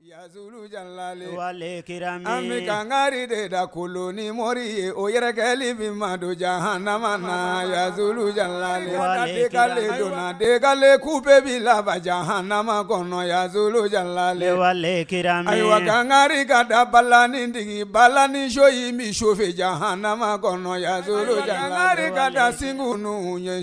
An bɛ kangari de da kolo ni mori ye o yɛrɛ kɛli bɛ maa don jahanama na yazulu jalale delen ku bɛ bɛ laban jahanama kɔnɔ yazulu jalale ayiwa kangari ka da balani digi balani show y'i min sofɛ jahanama kɔnɔ yazulu jalale kangari ka da segu ninnu ye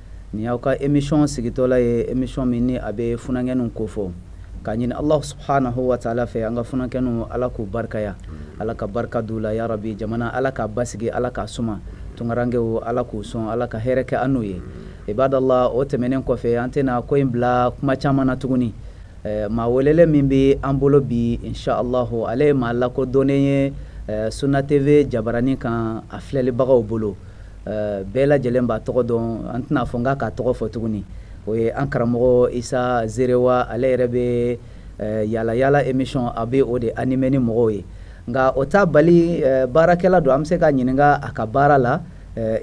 Nin y'aw ka émission sigitɔla ye émission min ni a bɛ funankɛninw kofɔ k'a ɲini Alahu subahanahu wataala fɛ an ka funankɛninw Ala k'u barikaya Ala ka barika don u la ya rabi jamana Ala k'a basigi Ala k'a suma tunkarankew Ala k'u sɔn Ala ka hɛrɛ kɛ an n'u ye ibadala o tɛmɛnen kɔfɛ an tɛna ko in bila kuma caman na tuguni eh, maa welelen min bɛ an bolo bi insha Alahu ale ye maa lakodɔnnen ye eh, Sunna TV jabaranin kan a filɛlibagaw bolo eh, bɛɛ lajɛlen b'a tɔgɔ dɔn an tɛna fɔ n k'a k'a tɔgɔ fɔ tuguni o ye an karamɔgɔ isa zerewa ale yɛrɛ bɛ eh, yala yala émission a bɛ o de animer ni mɔgɔw ye nka o t'a bali eh, baarakɛla don an bɛ se ka ɲininka a ka baara la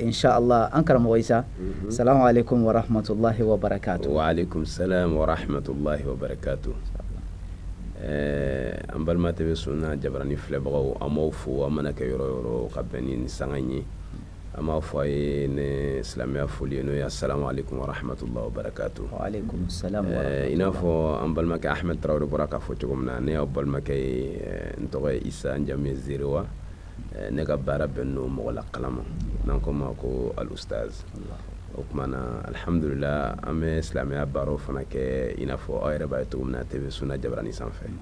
inshallah an karamɔgɔ isa mhm. salamu alaikum wa rahmatulahi wa barakatu wa alaikum salam wa rahmatulahi wa barakatu Eh, an balima TV Sunna jabarani filɛbagaw an b'aw fo aw mana kɛ yɔrɔ yɔrɔ ka bɛn ni sanga ye an b'a fɔ aw ye ni silamɛya foli ye n'o ye assalamu alaikum wa rahmatullahi wa barakatuh wa alaikum salam wa rahmatullahi eh, i n'a fɔ an balimakɛ ahmed tarawele bɔra k'a fɔ cogo min na ne y'aw balimakɛ ye eh, n tɔgɔ ye isa n jamu ye zerewa eh, ne ka baara bɛnnen don mɔgɔ lakalan ma n'an k'o ma ko al ustaz o tuma na alhamdulillah an bɛ silamɛya baaraw fana kɛ i n'a fɔ aw yɛrɛ b'a ye cogo min na TV Sunna jabarani sanfɛ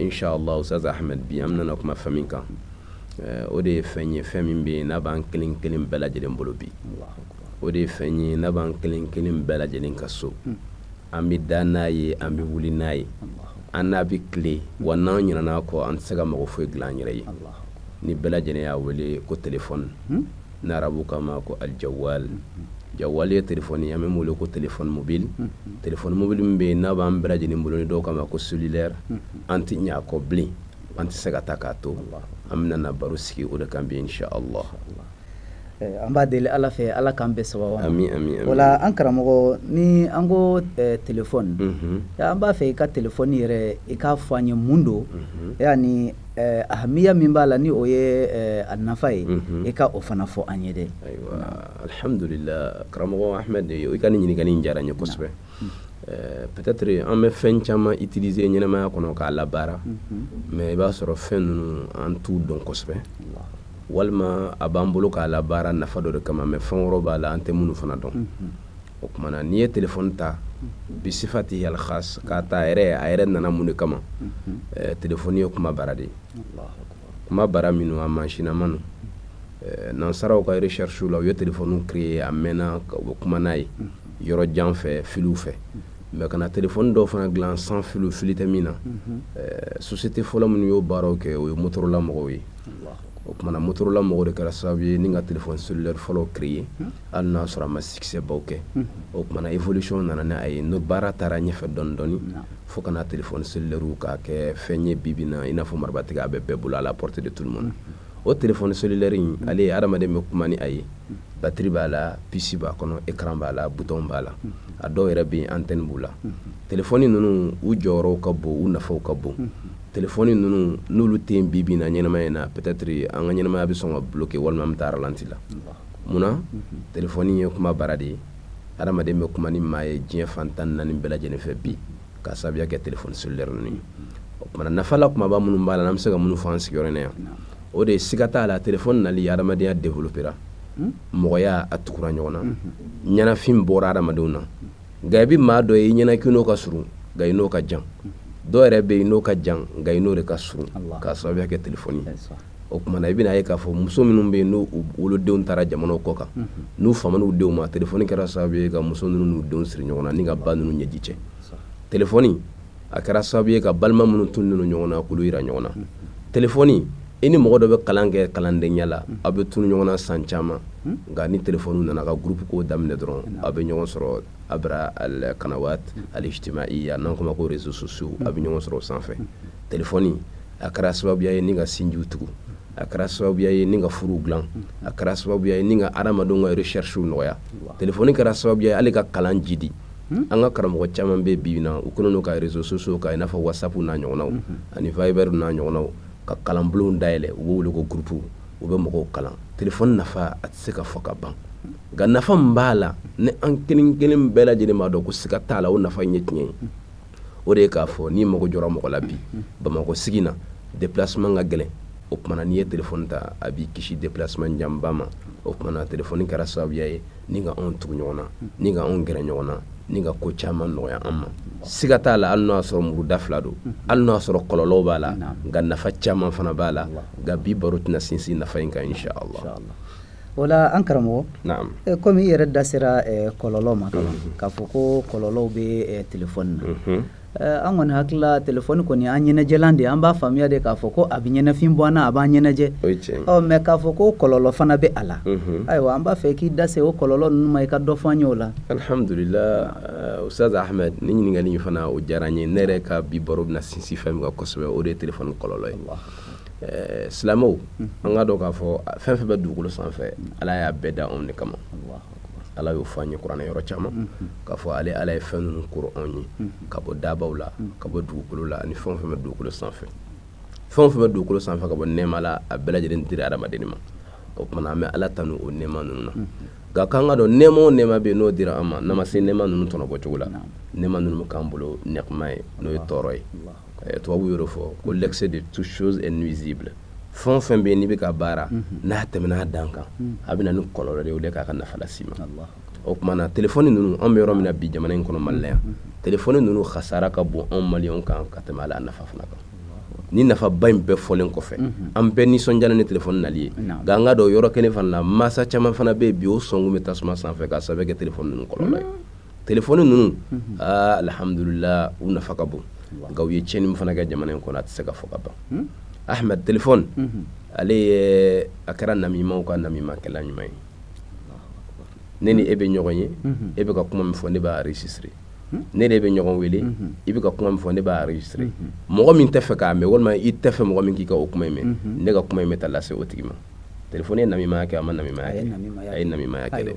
insha allah ustaz ahmed bi an bɛna kuma fɛn min kan eh, o de ye fɛn ye fɛn min bɛ yen n'a b'an kelen kelen bɛɛ lajɛlen bolo bi o de ye fɛn ye n'a b'an kelen kelen bɛɛ lajɛlen ka so hmm. an bɛ da n'a ye an bɛ wuli n'a ye an n'a bɛ tile wa n'an ɲinɛna a kɔ an tɛ se ka mago foyi dilan an yɛrɛ ye ni bɛɛ lajɛlen y'a wele ko telefɔni hmm? ni arabu k'a ma ko al jawal jawal ye telefɔni ye an bɛ min wele ko téléphone mobile téléphone mobile min bɛ yen n'a b'an bɛɛ lajɛlen bolo ni dɔw k'a ma ko cellulaire an tɛ ɲɛ a kɔ bilen an tɛ se ka taa k'a to an bɛna na baro sigi o de kan bi insha allah eh, an b'a deli ala fɛ ala k'an bɛɛ sababu amin amin amin voilà an karamɔgɔ ni an ko eh, telefɔni mhm. an b'a fɛ i ka telefɔni yɛrɛ i k'a fɔ an ye mun don mhm. yani Eh, ahamiya min b'a la ni o ye eh, a nafa ye mhm. i ka o fana fɔ an ye dɛ ayiwa alhamdulila karamɔgɔ ahmed i ka nin ɲininkali in diyara n ye kosɛbɛ mhm. eh, peut-être an bɛ fɛn caman utiliser ɲɛnamaya kɔnɔ k'a labaara mhm. mais i b'a sɔrɔ fɛn ninnu an t'u dɔn kosɛbɛ walima a b'an bolo k'a labaara nafa dɔ de kama mais fɛn wɛrɛw b'a la an tɛ minnu fana dɔn o kuma na n'i ye telefɔni ta bisifati al khas k'a ta a yɛrɛ nana mun de kama telefɔni ye kuma bara de ye kuma bara minnu a masinama don nansaraw ka recherchew la u ye telefɔni créer a mɛnna u bɛ kuma n'a ye yɔrɔ jan fɛ filiw fɛ mais ka na telefɔni dɔw fana dilan sans fili fili tɛ min na société fɔlɔ minnu y'o baaraw kɛ o ye motorola mɔgɔw ye o kumana motorola mɔgɔw de kɛra sababu ye ni ka telefɔni cellulaire fɔlɔ créer hmm. hali n'a sɔrɔ a ma succès baw kɛ hmm. o kumana évolution nana ni a ye n'o baara taara ɲɛfɛ dɔɔni dɔɔni hmm. fo ka na telefɔni cellulaire k'a kɛ fɛn ye bi bi na i n'a fɔ marabatiga a bɛ bɛɛ bolo à la portée de tout le monde o telefɔni cellulaire in ale ye adamaden bɛ kuma ni a ye batiri b'a la pisi b'a kɔnɔ écran b'a la bouton b'a la a dɔw yɛrɛ bɛ yen antenne b'u la telefɔni ninnu u jɔyɔrɔw ka bon u nafaw ka bon telefɔni ninnu n'olu tɛ yen bi bi in na ɲɛnamaya in na peut-être an ka ɲɛnamaya bɛ sɔn ka bloquer walima an bɛ taa ralenti la munna telefɔni ye kuma bara de ye hadamaden bɛ kuma ni maa ye diɲɛ fan tan ni naani bɛɛ lajɛlen fɛ bi k'a sababuya kɛ telefɔni cellulaire ninnu ye o kumana nafa la kumaba minnu b'a la n'an bɛ se ka minnu fɔ an sigiyɔrɔ in na yan o de ye siga t'a la telefɔni nali hadamadenya développera mɔgɔya a tugura ɲɔgɔn na ɲɛnafin bɔra hadamadenw na nka i bɛ maa dɔ ye i ɲɛna k'i n'o ka surun nka i n'o ka jan dɔw yɛrɛ bɛ yen n'o ka jan nka i n'o de ka surun k'a sababuya kɛ telefɔni o kumana i bɛna ye k'a fɔ muso minnu bɛ yen n'u wolodenw taara jamanaw kɔ kan n'u famana u denw ma telefɔni kɛra sababu ye ka muso ninnu n'u denw siri ɲɔgɔn na ni ka ba ninnu ɲɛji cɛ telefɔni a kɛra sababu ye ka balima minnu tununnen ɲɔgɔn na k'olu jira ɲɔgɔn na telefɔni i ni mɔgɔ dɔ bɛ kalan kɛ kalandenya la aw bɛ tunu ɲɔgɔn na san caman nka ni telefɔni nana ka gurupu ko daminɛ dɔrɔn aw bɛ ɲɔgɔn sɔrɔ abra al kanawat al ijtimaiya n'an k'o ma ko réseaux sociaux aw bɛ ɲɔgɔn sɔrɔ o sanfɛ telefɔni a kɛra sababuya ye ni ka sinjiw tugu a kɛra sababuya ye ni ka furuw dilan a kɛra sababuya ye ni ka adamadenw ka recherchew nɔgɔya telefɔni kɛra sababuya ye hali ka kalan jidi Hmm? an ka karamɔgɔ caman bɛ bi na u kɛlen don ka réseaux sociaux ka i n'a fɔ whatsapp n'a ɲɔgɔnnaw hmm. ani viber n'a ɲɔgɔnnaw ka kalanbulonw dayɛlɛ u b'o wele ko groupe u bɛ mɔgɔw kalan telefɔni nafa a tɛ se ka fɔ ka ban nka nafa min b'a la ni an kelen kelen bɛɛ lajɛlen b'a dɔn ko siga t'a la o nafa in ye tiɲɛ ye o de ye k'a fɔ n'i mago jɔra mɔgɔ la bi hmm. bamakɔ sigi na déplacement ka gɛlɛn o kumana n'i ye telefɔni ta a b'i kisi déplacement janba ma o kumana telefɔni kɛra sababuya ye ni ka anw tugu ɲɔgɔn na ni ka anw gɛrɛ ɲɔgɔn na ni ka ko caman nɔgɔya an ma siga t'a la hali n'o y'a sɔrɔ muru da fila don hali n'o y'a sɔrɔ kɔlɔlɔw b'a la nka nafa caman fana b'a la nka bi baro tɛna sinsin nafa in kan insha Allah o la an karamɔgɔ eh, komi i yɛrɛ da sera eh, kɔlɔlɔ ma k'a fɔ ko kɔlɔlɔw bɛ eh, telefɔni na mhm. an kɔni hakili la telefɔni kɔni an ɲɛnajɛlan de an b'a faamuya de k'a fɔ ko a bɛ ɲɛnafin bɔ an na a b'an ɲɛnajɛ mais k'a fɔ ko kɔlɔlɔ fana bɛ a la ayiwa an b'a fɛ k'i da se o kɔlɔlɔ ninnu ma i ka dɔ fɔ an ye o la alihamdulila usitazi ahmed ni ɲininkali in fana o diyara n ye ne yɛrɛ ka bi baro bɛna sinsin fɛn min kan kosɛbɛ o de ye telefɔni kɔlɔlɔ ye silamɛw an ka dɔn k'a fɔ fɛn fɛn bɛ dugukolo sanfɛ ala y'a bɛɛ da anw de kama ala y'o fɔ an ye kuranɛ yɔrɔ caman mm-hmm. k'a fɔ ale ala ye fɛn ninnu koro anw ye mm-hmm. ka bɔ dabaw la mm-hmm. ka bɔ dugukolo la ani fɛn o fɛn bɛ dugukolo sanfɛ fɛn o fɛn bɛ dugukolo sanfɛ ka bɔ nɛɛma la a bɛɛ lajɛlen dira adamaden ma o tuma an bɛ ala tanu o nɛɛma ninnu na nka k'an ka dɔn nɛɛma o nɛɛma bɛ yen n'o dira an ma n'an ma se nɛɛma ninnu tɔnɔbɔ cogo la nɛɛma ninnu bɛ k'an bolo niqma ye n'o ye tɔɔrɔ ye eh, tubabu y'o fɔ ko l'excès de toute chose est nuisible fɛn o fɛn bɛ yen n'i bɛ ka baara mhm. n'a tɛmɛna a dan kan mhm. a bɛ na ni kɔlɔlɔ de ye o de k'a ka nafa las'i ma o tuma na telefɔni ninnu an bɛ yɔrɔ min na bi jamana in kɔnɔ mali la yan mhm. telefɔni ninnu kasara ka bon anw maliyɛnw kan ka tɛmɛ a la nafa fana kan ni nafaba in bɛɛ fɔlen kɔfɛ an bɛɛ nisɔndiyalen ni telefɔni nali ye nka an ka dɔn yɔrɔ kelen fana na mansa caman fana bɛ yen bi o sɔnkun bɛ tasuma sanfɛ k'a sababu kɛ telefɔni ninnu kɔlɔlɔ ye telefɔni ninnu aa alihamudulila u nafa ka bon nka u ye tiɲɛni min fana kɛ jamana in kɔnɔ a tɛ se ka fɔ ka ban hmm? ahmed telefɔni hmm. ale ye a kɛra namimaw ka namimakɛlan ɲuman ye ne ni e bɛ ɲɔgɔn ye hmm. e bɛ ka kuma min fɔ ne b'a enregistrer ne ni e bɛ ɲɔgɔn wele i bɛ ka kuma min fɔ ne b'a enregistrer mɔgɔ min tɛ fɛ k'a mɛn walima i tɛ fɛ mɔgɔ min k'i ka o kuma in mɛn ne ka kuma in bɛ taa lase o tigi ma telefɔni ye namimaya kɛ a ma namimaya kɛ a ye namimaya kɛ dɛ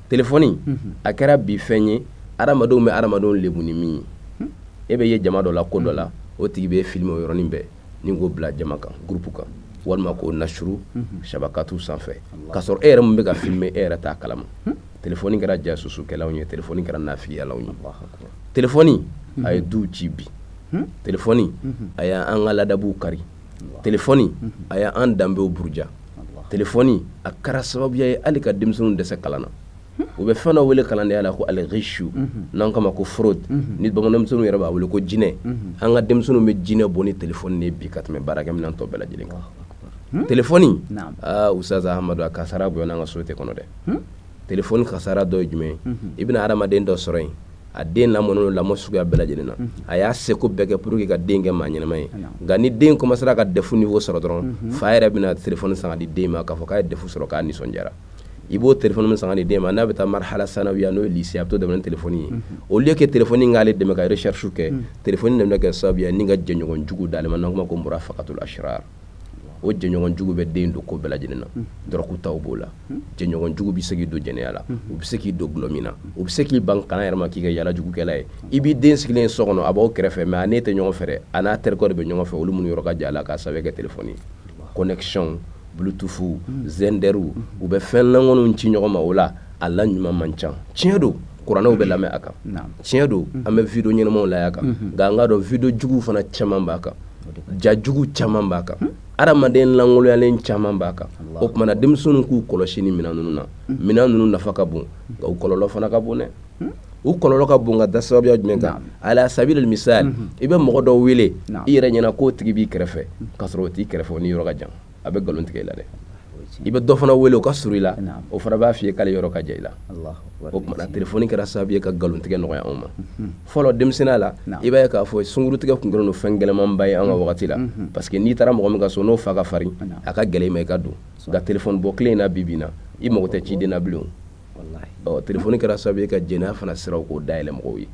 téléphone a kɛra bi fɛn ye adamadenw bɛ adamadenw lebu ni min ye e bɛ ye jama dɔ la ko dɔ la o tigi bɛ filmer o yɔrɔnin bɛɛ ni k'o bila jama kan groupe kan walima k'o nashuru shabakatu sanfɛ ka sɔrɔ e yɛrɛ min bɛ ka filmer e yɛrɛ t'a kalama téléphone kɛra jasusukɛlanw ye téléphone kɛra nafigiyalanw ye téléphone a ye duw ci bi téléphone a y'an ka ladabuw kari téléphone a y'an danbew buruja téléphone a kɛra sababuya ye hali ka denmisɛnninw dɛsɛ kalan na u bɛ fɛn dɔ wele kalandenya la ko al-ghishu n'an k'a ma ko fraude ni bamananmisɛnninw yɛrɛ b'a wele ko jinɛ an ka denmisɛnninw bɛ jinɛ bɔ ni téléphone de bi ka tɛmɛ baarakɛminɛn tɔ bɛɛ lajɛlen kan téléphone aaa usitazi amadu a kasara bonyana an ka société kɔnɔ dɛ téléphone kasara dɔ ye jumɛn i bɛna hadamaden dɔ sɔrɔ yen a den lamɔnen lamɔ suguya bɛɛ lajɛlen na a y'a seko bɛɛ kɛ pour que ka den kɛ maa ɲɛnama ye nka ni den commencera ka defu niveau sɔrɔ dɔrɔn fa yɛrɛ bɛna telefɔni san ka di den ma k'a fɔ k'a ye defu sɔrɔ k'a nisɔndiyara i b'o telefɔni min san ka di den ma n'a bɛ taa marhala sanawiya n'o ye lycée a bɛ to dɛmɛ ni telefɔni ye au lieu que telefɔni in k'ale dɛmɛ ka recherche kɛ telefɔni de bɛna kɛ sababu ye ni ka jɛɲɔgɔn jugu d'ale ma n'an k'o ma ko murafakatul ashrar o jɛɲɔgɔn jugu bɛ den don ko bɛɛ lajɛlen na dɔrɔgu taw b'o la jɛɲɔgɔn jugu bɛ se k'i don jɛnɛya la u bɛ se k'i don dɔlɔ min na u bɛ se k'i ban kalan yɛrɛ ma k'i kɛ yaala jugukɛla ye i b'i den sigilen so kɔnɔ a b'aw kɛrɛfɛ mais a n'e tɛ ɲɔgɔn fɛ a n'a terikɛw de bɛ ɲɔgɔn fɛ olu minnu yɔrɔ ka jan a la k'a sababu kɛ telefɔni ye connexion bluetooth xenderw u bɛ fɛn lankolonw ci ɲɔgɔn ma o la a la ɲuman man ca tiɲɛ don kuranɛw bɛ lamɛn a kan tiɲɛ don an bɛ video ɲɛnamaw lajɛ a kan nka an k'a dɔn video juguw fana caman b'a kan ja jugu caman b'a kan adamaden lankolonyalen caman b'a kan o tumana denmisɛnninw k'u kɔlɔsi ni minɛn ninnu na minɛn ninnu nafa ka bon nka u kɔlɔlɔ fana ka bon dɛ u kɔlɔlɔ ka bon ka da sababuya jumɛn kan ala sabili misal i bɛ mɔgɔ dɔ wele i yɛrɛ ɲɛna k'o tigi b'i kɛrɛfɛ ka sɔrɔ o t'i kɛrɛfɛ o n'i yɔrɔ ka jan a bɛ nkalon tigɛ i la dɛ i bɛ dɔ fana wele o ka surun i la o fana b'a f'i ye k'ale yɔrɔ ka jan i la o tumana telefɔni kɛra sababu ye ka nkalon tigɛ nɔgɔya anw ma mhm. fɔlɔ denmisɛnninya la i b'a ye k'a fɔ sungurutigɛ tun kɛlen don fɛn gɛlɛmanba ye an ka mhm. wagati la mhm. parce que n'i taara mɔgɔ min ka so n'o fa ka farin a ka gɛlɛn i ma i ka don nka telefɔni bɔ kelen in na bi bi in na i mago tɛ ciden na bilen o telefɔni kɛra sababu ye ka jɛnɛya fana siraw k'o dayɛlɛ mɔgɔw ye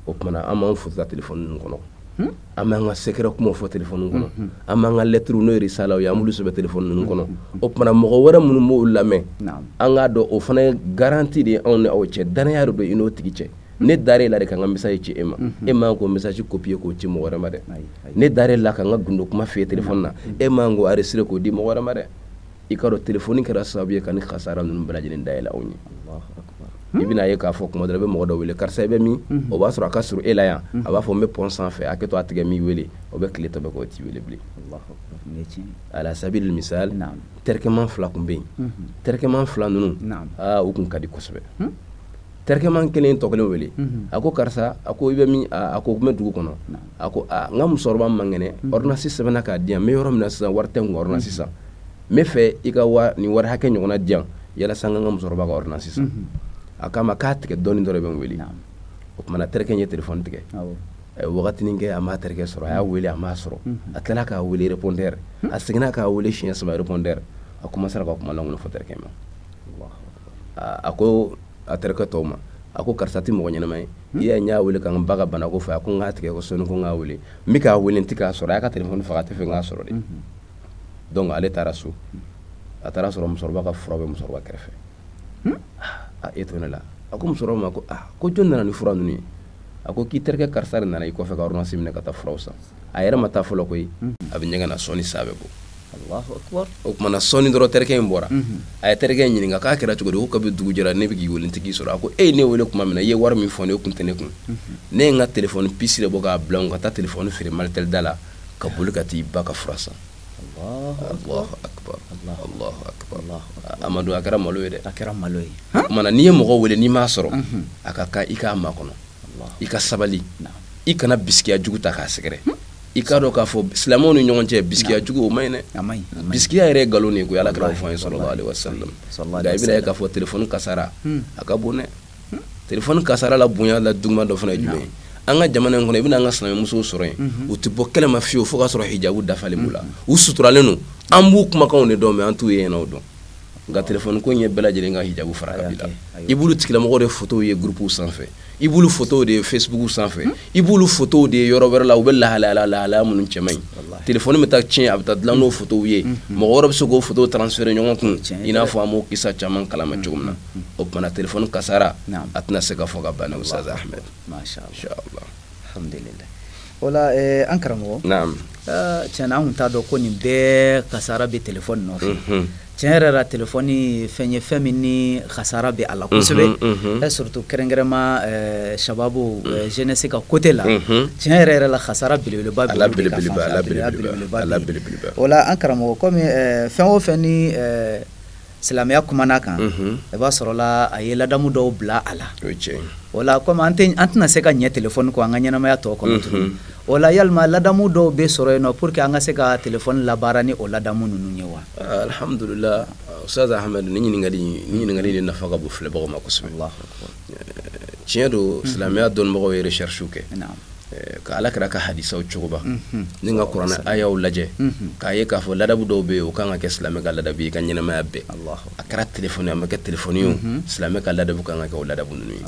o tumana an b'an foto ta telefɔni ninnu kɔnɔ hmm? an b'an ka secret kumaw fɔ telefɔni kɔnɔ an b'an ka lettres n'o ye risalaw ye an b'olu sɛbɛn telefɔni ninnu kɔnɔ o tumana mɔgɔ wɛrɛ minnu b'o lamɛn an k'a dɔn o fana ye garanti de ye anw ni aw cɛ danaya de don i n'o tigi cɛ ne dar'e la de ka n ka message ci e ma e man k'o message copier k'o ci mɔgɔ wɛrɛ ma dɛ ne dar'e la ka n ka gundo kuma f'i ye telefɔni na e man k'o enregistrer k'o di mɔgɔ wɛrɛ ma dɛ i ka dɔn telefoni kɛra sababu ye ka nin kasara ninnu bɛɛ lajɛlen dayɛlɛ anw ye i bɛna ye k'a fɔ tuma dɔ la i bɛ mɔgɔ dɔ wele karisa i bɛ min o b'a sɔrɔ a ka surun e la yan a b'a fɔ n bɛ pɔn sanfɛ hakɛ to a tigɛ n b'i wele o bɛ tile tɔ bɛɛ k'o t'i wele bilen ala sabili misal terikɛman fila tun bɛ yen terikɛman fila ninnu aa u tun ka di kosɛbɛ terikɛman kelen tɔ kelen wele mhm. a ko karisa a ko i bɛ min a ko n bɛ dugu kɔnɔ a ko aa n ka musokɔrɔba man kɛnɛ mhm. ordonnance sɛbɛnna k'a di yan n bɛ yɔrɔ min na sisan wari tɛ n kun ordonnance mhm. san n bɛ fɛ i ka wa nin wari hakɛ ɲɔgɔnna di yan yalasa n ka n ka musokɔrɔba ka ordonnance san a k'a ma k'a tigɛ dɔɔnin dɔ de bɛ n wele o tuma na terikɛ ye telefɔni tigɛ a ye wagatinin kɛ a m'a terikɛ sɔrɔ a y'a wele a m'a sɔrɔ a tilala k'a wele répondeur a seginna k'a wele siɲɛ saba répondeur a commencera ka kuma lankolon fɔ terikɛ ma a ko a terikɛ tɔw ma a ko karisa tɛ mɔgɔ ɲɛnama ye hmm? i y'a ye n y'a wele ka n ba ka bana ko fɔ a ko n k'a tigɛ ko sɔɔni ko n k'a wele n bɛ k'a wele n tɛ k'a sɔrɔ a y'a ka telefɔni faga a tɛ fɛ n k'a sɔrɔ de hmm. donc ale taara so a taar'a sɔrɔ musokɔrɔba ka fura bɛ musokɔrɔba kɛrɛfɛ hmm? a e to ne la a ko musokɔrɔba ma ko aa ah, ko jɔn nana ni fura ninnu ye a ko k'i terikɛ karisa de nana i kɔfɛ ka ordonnance minɛ ka taa furaw san a yɛrɛ ma taa fɔlɔ koyi a bɛ ɲɛgɛn na sɔɔni a bɛ bɔ o tumana sɔɔni dɔrɔn terikɛ in bɔra mhm. a ye terikɛ in ɲininka k'a kɛra cogo di ko kabi dugu jɛra ne bɛ k'i wele n tɛ k'i sɔrɔ a ko e ye ne wele tuma min na i ye wari min fɔ n ye o kun tɛ ne kun mhm. ne ye n ka telefɔni pisi de bɔ k'a bila n ka taa telefɔni feere malitɛli da la ka boli ka t'i ba ka fura san amadu a kɛra malo ye dɛ a kɛra malo ye o tumana n'i ye mɔgɔ wele n'i m'a sɔrɔ mhm. a ka kan i k'a makɔnɔ i ka sabali i kana bisikiya jugu ta k'a sɛgɛrɛ i k'a dɔn k'a fɔ silamɛw ni ɲɔgɔn cɛ bisikiya jugu o man ɲi dɛ bisikiya yɛrɛ ye nkalon de ye koyi ala kira y'o fɔ an ye sallallahu alaihi wasallam nka i bɛna ye k'a fɔ telefɔni kasara hmm. a ka bon dɛ hmm. telefɔni kasara la bonya la juguman dɔ fana ye jumɛn ye an ka jamana in kɔnɔ i bɛna an ka silamɛmusow sɔrɔ yen mhm. u tɛ bɔ kɛnɛ ma fiyewu fo k'a sɔrɔ hijabu dafalen b'u la mhm. u suturalen don an b'u kumakanw de dɔrɔn mɛ an t'u yeɲɛna dɔn nka telefɔni ko in ye bɛɛ lajɛlen ka hijabu fara ka bila i b'olu tigilamɔgɔw de fotow ye gurupuw sanfɛ i b'olu fotow de ye fesibuku sanfɛ hmm? i b'olu fotow de ye yɔrɔ wɛrɛ la u bɛ lahalaya lahalaya minnu cɛ man ɲi telefɔni bɛ taa tiɲɛ a bɛ taa dilan n'o hmm. fotow ye hmm. mɔgɔ wɛrɛ bɛ se k'o fotow transfere ɲɔgɔn kun i n'a fɔ an b'o kisa caman kalama cogo min na o tumana telefɔni kasara a tɛna se ka fɔ ka ban ustaz ahmed alhamdulillah wala eh, an karamɔgɔ naam ah, tiɲɛna an tun t'a dɔn ko nin bɛɛ kasara bɛ telefɔni nɔfɛ mhm. tiɲɛ yɛrɛ la telefɔni fɛn ye fɛn min ni kasara bɛ a la mhm, kosɛbɛ mhm. eh, surtout kɛrɛnkɛrɛnma eh, shababu jeunesse ka côté la tiɲɛ yɛrɛ yɛrɛ la kasara belebeleba bɛ belebeleba wala an karamɔgɔ komi fɛn o fɛn ni silamɛya kumana kan i b'a sɔrɔla a ye ladamu dɔw bila a la wala komi an tɛna se ka ɲɛ telefɔni kɔ an ka ɲɛnamaya tɔ kɔnɔ tuguni wala yalima ladamu dɔw bɛ sɔrɔ yen nɔ pour que an ka se ka telefɔni labaara ni o ladamu ninnu ye wa alhamdulila ustaz ahmed nin ɲininkali nin ɲininkali de nafa ka bon filɛbagaw ma kosɛbɛ tiɲɛ don silamɛya dɔnnibagaw ye recherche kɛ Eh, ka ala kira ka hadisaw cogoba ni ka kuranɛ ayaw lajɛ k'a ye k'a fɔ ladabu dɔw bɛ yen o ka kan ka kɛ silamɛ ka ladabu ye i ka ɲɛnamaya bɛɛ a kɛra telefɔni a ma kɛ telefɔni ye silamɛ ka ladabu ka kan ka kɛ o ladabu ninnu ye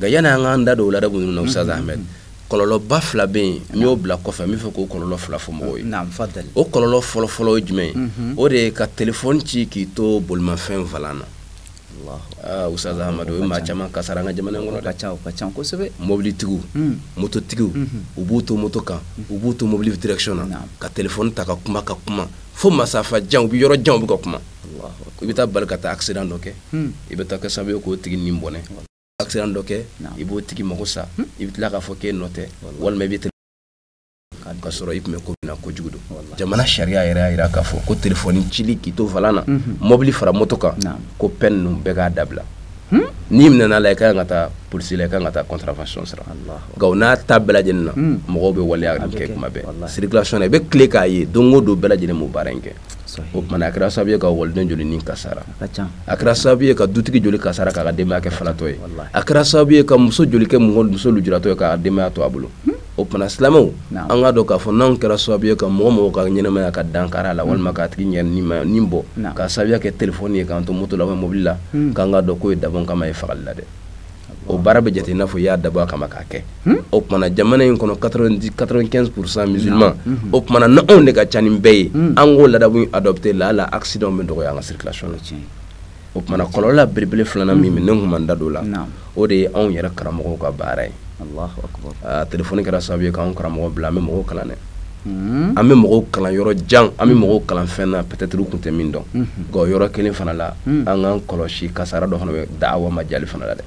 nka yanni an k'an da don o ladabu ninnu na ustaz ahmed kɔlɔlɔba fila bɛ yen n y'o bila kɔfɛ n bɛ fɛ k'o kɔlɔlɔ fila fɔ mɔgɔw ye o kɔlɔlɔ fɔlɔfɔlɔ ye jumɛn ye o de ye ka telefɔni ci k'i to bolimafɛn volan na Ustaz amadu o ye maa caman kasara an ka jamana kɔnɔ ka ca ka ca kosɛbɛ mobilitigiw mototigiw u b'u to moto kan u b'u to mobili direction na ka telefɔni ta ka kuma ka kuma fo masafa jan u bɛ yɔrɔ jan u bɛ ka kuma i bɛ taa bali ka taa aksidan dɔ kɛ i bɛ taa kɛ sababu ye k'o tigi ni bɔnɛ aksidan dɔ kɛ i b'o tigi mako sa i bɛ tila k'a fɔ k'e nɔ tɛ walima i bɛ ka sɔrɔ i tun bɛ ko min na kojugu don jamana sariya yɛrɛ y'a jira k'a fɔ ko telefɔni cili k'i to volant na mhm. mɔbili fara moto kan ko fɛn ninnu bɛɛ k'a dabila hmm? n'i minɛna la i ka kan ka taa polisi la i ka kan ka taa contravention sara nka o n'a ta bɛɛ lajɛlen na hmm. mɔgɔw bɛ waleya nin kɛ kuma bɛɛ circulation na i bɛ tile k'a ye don o don bɛɛ lajɛlen b'o baara in kɛ o tuma na a kɛra sababu ye ka waliden joli ni kasara a kɛra sababu ye ka dutigi joli kasara k'a ka denbaya kɛ falatɔ ye a kɛra sababu ye ka muso joli kɛ muso lujuratɔ ye k'a ka denbaya to a bolo hmm? o tuma na silamɛw an k'a dɔn k'a fɔ n'anw kɛra sababu ye ka mɔgɔ mɔgɔ ka ɲɛnamaya ka dankari a la walima k'a tigi ni bɔ k'a sababuya kɛ telefɔni ye k'an to moto la mobili la k'an k'a dɔn k'o ye dabɔnkama ye fagali la dɛ o baara bɛ jate i n'a fɔ i y'a dabɔ a kama k'a kɛ o tuma na jamana in kɔnɔ quatre-vingt-quinze pour cent musulman o tuma na n'anw de ka ca ni bɛɛ ye an k'o ladabu adopter laala accident bɛ dɔgɔya an ka circulation o tuma na kɔlɔlɔ belebele filanan min ne tun ma n da don o la o de ye anw yɛrɛ karamɔgɔw ka baara ye telefɔni kɛra sababu ye k'an karamɔgɔ bila an bɛ mɔgɔw kalan dɛ hmm. an bɛ mɔgɔw kalan yɔrɔ jan an bɛ hmm. mɔgɔw kalan fɛn na peut-être u tun tɛ min dɔn hmm. nka o yɔrɔ kelen fana la an k'an kɔlɔsi kasara dɔ fana bɛ da'awa majali fana la dɛ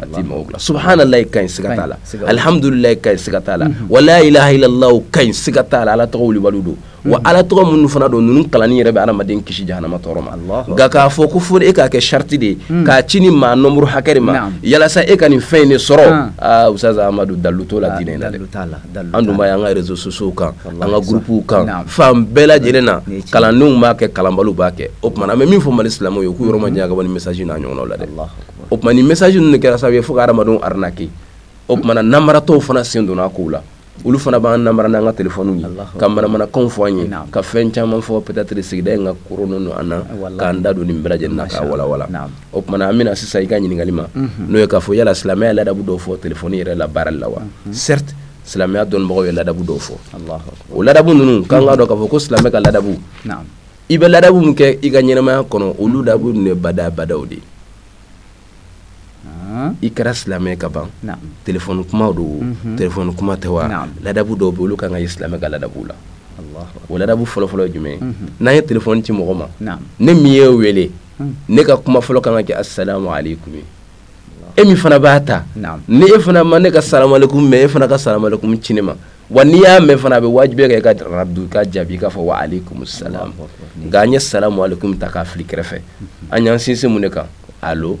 a t'i mago dilan subhanallah ka ɲi siga t'a la alhamdulillah ka ɲi siga t'a la mhm. wala ilaha illallah ka ɲi siga t'a la ala tɔgɔ wulibaliw don wa mhm. ala tɔgɔ minnu fana don ninnu kalanni yɛrɛ bɛ adamaden kisi jahanama tɔɔrɔ ma nka k'a fɔ ko fo e k'a kɛ sariti de ye mhm. k'a ci nin maa nombre hakɛ de ma yalasa e ka nin fɛn in de sɔrɔ aa ah, ustaz amadu dalu t'o la ah, diinɛ in na dɛ an dun b'a ye an ka réseaux sociaux kan an ka gurupuw kan fan bɛɛ lajɛlen na kalandenw b'a kɛ kalanbaliw b'a kɛ o tuma na an bɛ min fɔ mali silamɛw ye k'u yɔrɔ majanya ka bɔ nin message n'a ɲɔgɔnnaw la dɛ o tuma na nin message ninnu de kɛra sababu ye fo ka hadamadenw arnaquer o tuma na namaratɔw fana sen donna a kow la olu fana b'an namara n'an ka téléphone ye ka manamanakanw fɔ an ye ka fɛn caman fɔ peut-être sigida in ka koronnen don an na k'an da don nin bɛɛ lajɛlen na k'a walawala o tuma na an bɛ na sisan i ka ɲininkali ma mhm. n'o ye k'a fɔ yala silamɛya ye ladabu dɔw fɔ téléphone yɛrɛ la baarali la wa mhm. certes silamɛya dɔnnibagaw ye ladabu dɔw fɔ o ladabu ninnu k'an k'a dɔn k'a fɔ ko silamɛ ka ladabu i bɛ ladabu min kɛ i ka ɲɛnamaya kɔnɔ o ladabu ninnu ye badaa badaw de ye i kɛra silamɛ ka ban telefɔni kuma don mhm. telefɔni kuma tɛ wa ladabu dɔw bɛ olu kan ka ye silamɛ ka ladabu la o ladabu fɔlɔfɔlɔ ye jumɛn mhm. n'an ye telefɔni ci mɔgɔ ma ne min ye wele mhm. ne ka kuma fɔlɔ kan ka kɛ asalamu aleyikumu ye e min fana b'a ta ni e fana ma ne ka salamu aleykum mɛn e fana ka salamu aleykum ci ne ma wa n'i y'a mɛn fana a bɛ wajibi kɛ i ka raddu k'a jaabi k'a fɔ wa aleykum salam nka an ye salamu aleykum ta k'a fili kɛrɛfɛ an y'an sinsin mun de kan alo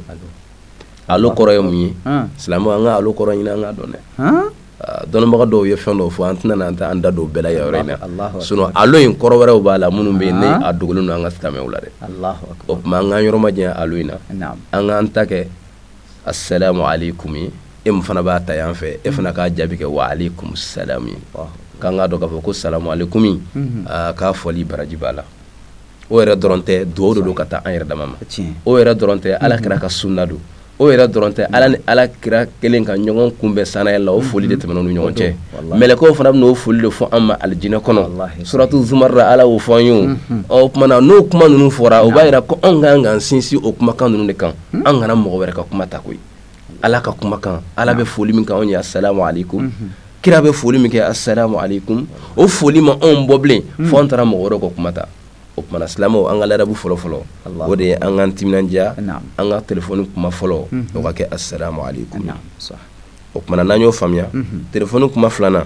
alo kɔrɔ ye mun ye silamɛw an ka alo kɔrɔ ɲini an k'a dɔn dɛ Ah, dɔnnibaga dɔw ye fɛn dɔw fɔ an tɛna an ta an da don o bɛɛ la yɔrɔ in na sinon alo in kɔrɔ wɛrɛw b'a la minnu bɛ yen ni ah. a dogolen don an ka silamɛw la dɛ o tuma an k'an yɔrɔ majanya alo in na an k'an ta kɛ asalamu aleykum ye e min fana b'a ta yan fɛ e fana k'a jaabi kɛ wa aleykum salam ye k'an k'a dɔn k'a fɔ ko salamu aleykum mhm. ah, k'a fɔli baraji b'a la o yɛrɛ dɔrɔn tɛ dugawu de don ka taa an yɛrɛ dama ma o yɛrɛ dɔrɔn tɛ ala kira ka sunna don o yɛrɛ dɔrɔn tɛ ala ni ala kira kelen ka ɲɔgɔn kunbɛn sannayɛlɛ la o mm-hmm. foli de tɛmɛna ni ɲɔgɔn cɛ mɛlɛkɛw fana bɛna o foli de fɔ an ma alijinɛ kɔnɔ suratu zumari la ala y'o fɔ an ye mm-hmm. o tumana n'o kuma ninnu fɔra o b'a yira ko anw ka kan k'an sinsin o kumakan ninnu de kan mm-hmm. an kana mɔgɔ wɛrɛ ka kuma ta koyi ala ka kumakan ala bɛ foli min kɛ anw ye asalamu aleykum mhm. kira bɛ foli min kɛ asalamu aleykum o foli ma anw bɔ bilen mhm. fo an taara mɔgɔ wɛrɛ ka kuma ta o tumana silamɛw an ka ladabu fɔlɔ fɔlɔ o de ye an k'an timinandiya an ka telefɔni kuma fɔlɔ mhm. o ka kɛ asalamu aleykum o tumana n'an y'o faamuya telefɔni kuma filanan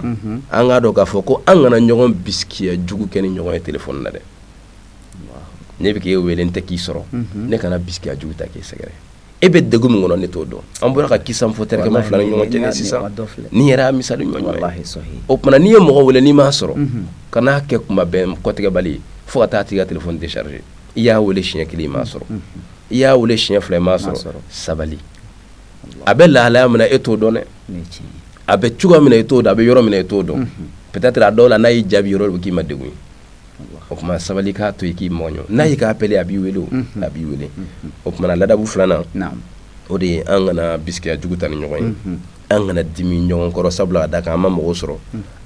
an k'a dɔn k'a fɔ ko an kana ɲɔgɔn bisikiya jugu kɛ ni ɲɔgɔn ye telefɔni na dɛ ne bɛ k'e wele n tɛ k'i sɔrɔ ne kana bisikiya jugu ta k'e sɛgɛrɛ e bɛ degun min kɔnɔ ne t'o dɔn an bɔra ka kisa fɔ terikɛma fila ni ɲɔgɔn cɛ sisan nin yɛrɛ y'a misali ɲɔgɔn ye o tuma n'i ye mɔgɔ wele n'i m'a sɔrɔ kan'a kɛ kuma bɛn kɔtigɛbali ye fo ka taa a tigi ka telefɔni décharger i y'a wele siɲɛ kelen i m'a sɔrɔ i y'a wele siɲɛ fila i m'a sɔrɔ sabali a bɛ lahalaya min na e t'o dɔn dɛ a bɛ cogoya min na e t'o dɔn a bɛ yɔrɔ min na e t'o dɔn peut-être a dɔw la n'a y'i jaabi yɔrɔ bɛ k'i ma degun ye o tuma sabali k'a to i k'i mɔɲɔ n'a y'i ka appel ye a b'i wele a b'i wele o tuma ladabu filanan o de ye an kana bisikiya jugu ta ni ɲɔgɔn ye an kana dimi ɲɔgɔn kɔrɔ sabula k'a da kan an ma mɔgɔ sɔrɔ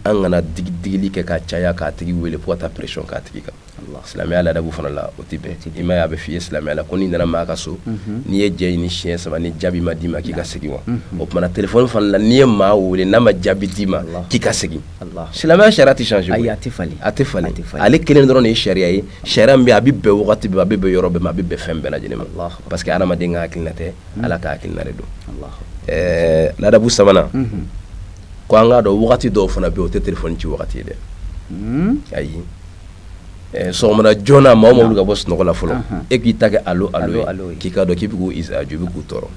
an kana digili kɛ ka caya k'a tigi wele fo ka taa pression k'a tigi kan silamɛya ladabu fana la o tɛ bɛn i m'a ye a bɛ f'i ye silamɛya la ko n'i nana maa ka so n'i ye jɛn ɲini siɲɛ saba ni jaabi ma d'i ma k'i ka segin wa o tuma telefɔni fana la n'i ye maa wele n'a ma jaabi d'i ma k'i ka segin silamɛya sariya tɛ changer ayi a tɛ falen a tɛ falen ale kelen dɔrɔn de ye sariya ye sariya min bɛ a bɛ bɛn wagati bɛɛ a bɛ bɛn yɔrɔ bɛɛ ma a bɛ bɛn fɛn bɛɛ lajɛlen ma parce que hadamaden ka hakilina tɛ mhm. ala ka hakilina de don ɛɛ ladabu sabanan mhm. ko an k'a dɔn wagati dɔw fana bɛ yen o tɛ telefɔni ci wagati ye dɛ mhm. ayi sɔgɔmada joona maaw ma wuli ka bɔ sunɔgɔ la fɔlɔ e k'i ta kɛ alo alo ye k'i k'a dɔn k'i bɛ k'u izaju i bɛ k'u tɔɔrɔ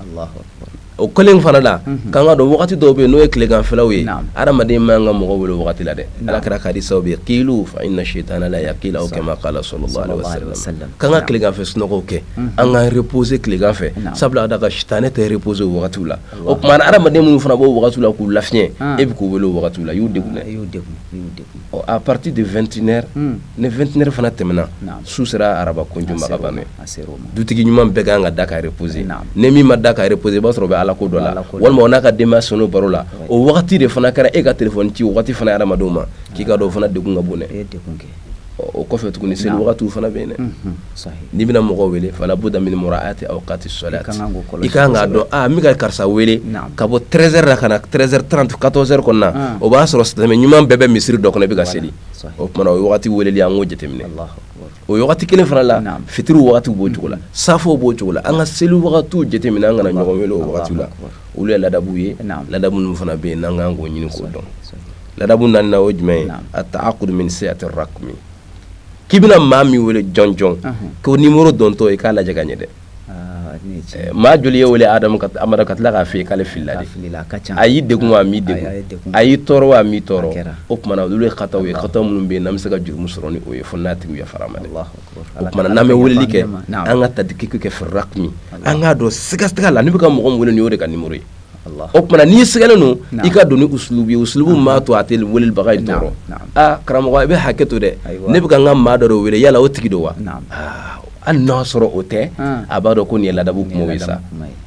o kelen fana la k'an k'a dɔn wagati dɔw bɛ yen n'o ye tileganfɛlaw ye hadamaden man kan ka mɔgɔ wele o wagati la dɛ ala kira ka hadisi sababu ye qilu fa inna shaytana la yaqilu aw kama qala sallallahu alaihi wasallam k'an ka tileganfɛ sunɔgɔw kɛ an ka reposer tileganfɛ sabula da ka sitanɛ tɛ reposer o wagatiw la o tuma hadamaden minnu fana b'o wagatiw la k'u lafiɲɛ e bɛ k'u wele o wagatiw la i y'u degun dɛ à partir de 21h ni 21h fana tɛmɛna su sera araba kunju dutigi ɲuman bɛɛ kan ka da ka reposer ni min ma da ka reposer i b'a sɔrɔ o bɛ ala ko dɔ la walima o n'a ka denbaya so kɔnɔ baro la o wagati de fana kɛra e ka telefɔni ci o waati fana hadamadenw ma k'i k'a dɔn o fana degun ka bon dɛ o kɔfɛ tuguni seli wagati fana bɛ yen dɛ n'i bɛna mɔgɔ wele fala budda min muraati awqati salat i ka kan k'a dɔn n bɛ ka karisa wele ka bɔ treize heures la ka na treize heures trente quatorze heures kɔnɔna o b'a sɔrɔ silamɛ ɲuman bɛɛ bɛ misiri dɔ kɔnɔ i bɛ ka seli o tumana o waati weleli an k'o jateminɛ o wagati kelen fana la fitiri wagatiw b'o cogo la mm-hmm. safow b'o cogo la an ka seli wagatiw jateminɛ an kana ɲɔgɔn wele o wagatiw la olu ye ladabuw ye ladabu ninnu fana bɛ yen n'an kan k'o ɲini k'o dɔn ladabu naaninan o jumɛn ye at-ta'akkud min sihhati raqmi k'i bɛna maa min wele jɔnjɔn k'o nimɔrɔ dontɔ i k'a lajɛ ka ɲɛ dɛ maa joli y'e wele amadu ka tila k'a f'e ye k'ale filila dɛ a y'i degun wa a m'i degun a y'i tɔɔrɔ wa a m'i tɔɔrɔ o tumana olu ye khataw ye khataw minnu bɛ yen n'an bɛ se ka jurumu sɔrɔ ni o ye fo n'a tigi yafara an ma dɛ o tumana n'an bɛ weleli kɛ an ka tadqiq kɛ fi raqmi an k'a dɔn sigatigɛ la ne bɛ ka mɔgɔ min wele nin o de ka nimɔrɔ ye o tuma n'i sigalen don i ka don ni usulubu ye usulubu m'a to a tɛ welebaga in tɔɔrɔ aa karamɔgɔ i bɛ hakɛ to dɛ ne bɛ ka n ka maa dɔ wele yala o tigi don wa hali n'a sɔrɔ o tɛ a b'a dɔn ko nin ye ladabu kuma ye sa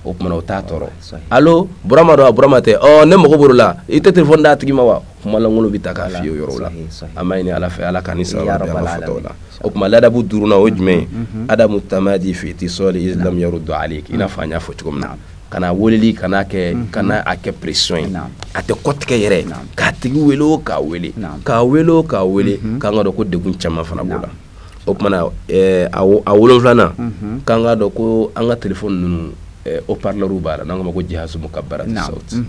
o tuma o t'a tɔɔrɔ alo burama don a burama tɛ ne mago b'o la i tɛ telefɔni d'a tigi ma wa kuma lankolon bɛ ta k'a f'i ye o yɔrɔ la an b'a ɲini ala fɛ ala k'an ni sawaba bɛn an ka fɔtaw la o tuma ladabu duurunan o ye jumɛn ye adamu tamadi fi ittisali in lam yarudda alayk i n'a fɔ an y'a fɔ cogo min na kana weleli kana kɛ mhm. kana a kɛ pression ye a tɛ kɔtigɛ yɛrɛ k'a tigi wele o k'a wele k'a wele o k'a wele mhm. k'an k'a dɔn ko degun caman fana b'o la o tumana eh, a wolonfilanan mhm. k'an k'a dɔn ko an ka telefɔni ninnu eh, haut-parleurw b'a la n'an k'a ma ko jihazu mukabbiru sawti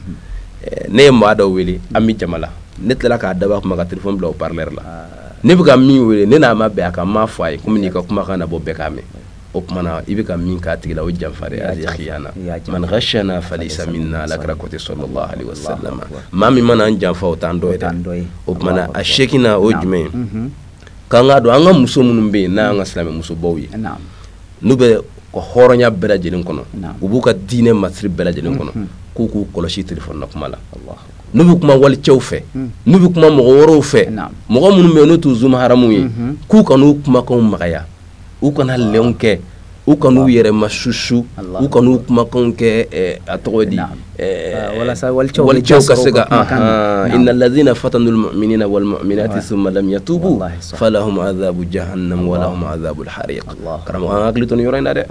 eh, ne ye maa dɔ wele an bɛ jama la ne tilala k'a dabɔ a kama ka telefɔni bila haut-parleur la ah. ne bɛ ka min wele ne n'a ma bɛn a kan n m'a fɔ a ye ko n bɛn'i ka kumakan nabɔ bɛɛ k'a mɛn o kumana i bɛ ka min k'a tigi la o janfa de ye al khiyana man ghashana falaysa minna ala kira ko ten sallallahu alaihi wasallam maa min mana an janfa o t'an dɔ ye dɛ o kumana a seeginan o jumɛn ye k'an k'a dɔn an ka muso minnu bɛ yen n'an ka silamɛ musobaw ye n'u b'u ka hɔrɔnya bɛɛ lajɛlen kɔnɔ u b'u ka diinɛ masiri bɛɛ lajɛlen kɔnɔ k'u k'u kɔlɔsi telefɔni na kuma la n'u bɛ kuma walicɛw fɛ n'u bɛ kuma mɔgɔ wɛrɛw fɛ mɔgɔ minnu bɛ yen n'u t'u zu mahramu ye k'u kan'u kumakanw magaya u kana lɛn kɛ u kan'u yɛrɛ ma susu u kan'u kumakan kɛ a tɔgɔ di walicɛw ka se ka inna alladhina fatanu almu'minina walmu'minati thumma lam yatubu falahum adhabu jahannam wa lahum adhabu alhariq karamɔgɔ an hakili to nin yɔrɔ in na dɛ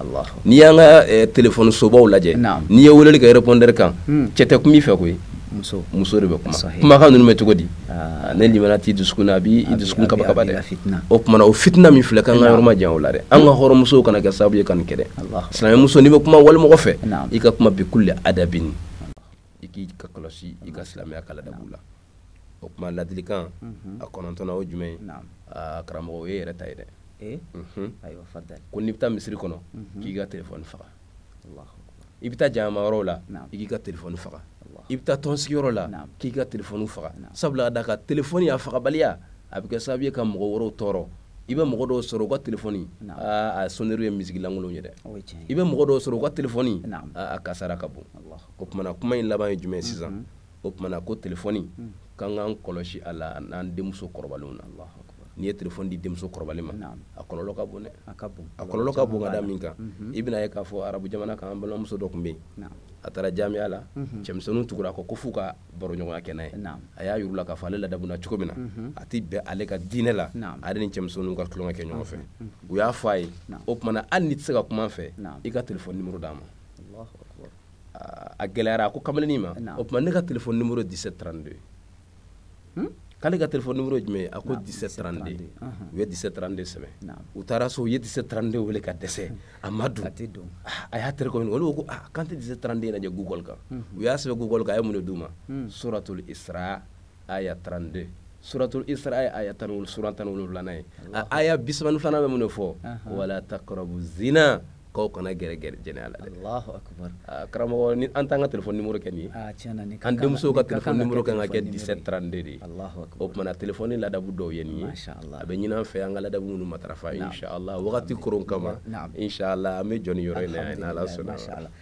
n'i y'an ka telefɔni sobaw lajɛ n'i ye weleli kɛ répondeur kan cɛ tɛ kuma i fɛ koyi muso de bɛ kuma kumakan ninnu bɛ cogo di ah. ni limana t'i dusukun na a b'i dusukun kabakaba dɛ o tumana o fitina min filɛ k'an k'an yɔrɔ majan o la dɛ an ka hɔrɔnmusow kana kɛ sababu ye ka nin kɛ dɛ silamɛmuso n'i bɛ kuma walimɔgɔ fɛ i ka kuma bi kulli adabini i k'a kɔlɔsi i ka silamɛya ka ladabu la o tuma ladilikan mhm. a kɔnɔntɔnna o jumɛn ye ah, karamɔgɔ o ye yɛrɛ ta ye dɛ eh? mhm. ko n'i bɛ taa misiri kɔnɔ mhm. k'i ka telefɔni faga i bɛ taa jama yɔrɔ la i k'i ka telefɔni faga i bɛ taa tɔnsigiyɔrɔ la k'i ka telefɔni faga sabula da ka telefɔni a fagabaliya a bɛ kɛ sababu ye ka mɔgɔ wɛrɛw tɔɔrɔ i bɛ mɔgɔ dɔw sɔrɔ u ka telefɔni a sonnerie ye miziki lankolon ye dɛ i bɛ mɔgɔ dɔw sɔrɔ u ka telefɔni a kasara ka bon o tumana kuma in laban ye jumɛn sisan o tumana ko telefɔni hmm. k'an k'an kɔlɔsi a la n'an denmuso kɔrɔbalenw na n'i ye telefɔni di denmuso kɔrɔbalen ma a kɔlɔlɔ ka bon dɛ a kɔlɔlɔ ka bon ka da min kan mhm. i bɛn'a ye k'a fɔ arabu jamana kan an balimamuso dɔ tun bɛ yen a taara jamiya la mhm. cɛmisɛnninw tugur'a kɔ f'u ka baroɲɔgɔnya kɛ n'a ye a y'a yir'u la k'a fɔ ale ladamuna cogo min na mhm. a tɛ bɛn ale ka diinɛ la ale ni cɛmisɛnninw ka tulonkɛ kɛ ɲɔgɔn fɛ u y'a fɔ a ye o tumana hali n'i tɛ se ka kum'an fɛ i ka telefɔni nimoro d'an ma a gɛlɛyara a ko kamalennin ma o tuma ne ka telefɔni nimoro 17 32 hmm? k'ale ka telefɔni nimoro ye jumɛn ye a ko 17 32 u ye 17 32 sɛbɛn u taara so u ye 17 32 wele ka dɛsɛ a ma don ah, a y'a terikɛw ɲininka olu ko ah, k'an tɛ 17 32 lajɛ google kan hmm. u y'a sɛbɛn google kan a ye mun de d'u ma hmm. suratul isra aya 32 suratul isra ye aya tan sura tan ni wolonwulanan ye a aya bisaba ni filanan bɛ mun de fɔ wala takrabu zina k'aw kana gɛrɛ gɛrɛ jɛnɛya la dɛ karamɔgɔ ni an t'an ka telefɔni nimoro kɛ nin ye an denmusow ka telefɔni nimoro kan ka kɛ 17 32 de ye o tumana telefɔni ladabu dɔw ye nin ye a bɛ ɲin'an fɛ an ka ladabu minnu matarafa inshallah wagati koron kama inshallah an bɛ jɔ nin yɔrɔ in na yan n'ala sɔnna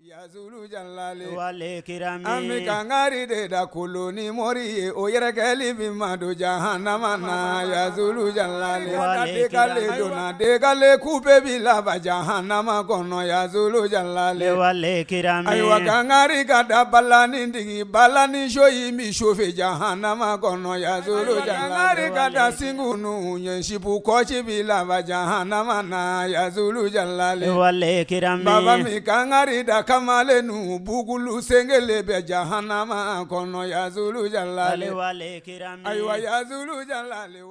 Ya jalakɛla an bɛ kangari de da kolo ni mori ye o yɛrɛkɛli bɛ madon jan hama na ya jalakale ku bɛ bɛ laban jan hama kɔnɔ ya jalakɛla ayiwa kangari ka da bala ni dege bala ni so y'i min sofɛ jan hama kɔnɔ ya jala ka da segu ninnu ye Cibugu kɔci b'i laban jahanama na ya zulu jalale wale kirami baba an bɛ kangari da kamalennu bugulu sen kelen bɛ jahanama kɔnɔ ya zulu jalale wale kirami ayiwa ya zulu jalale wa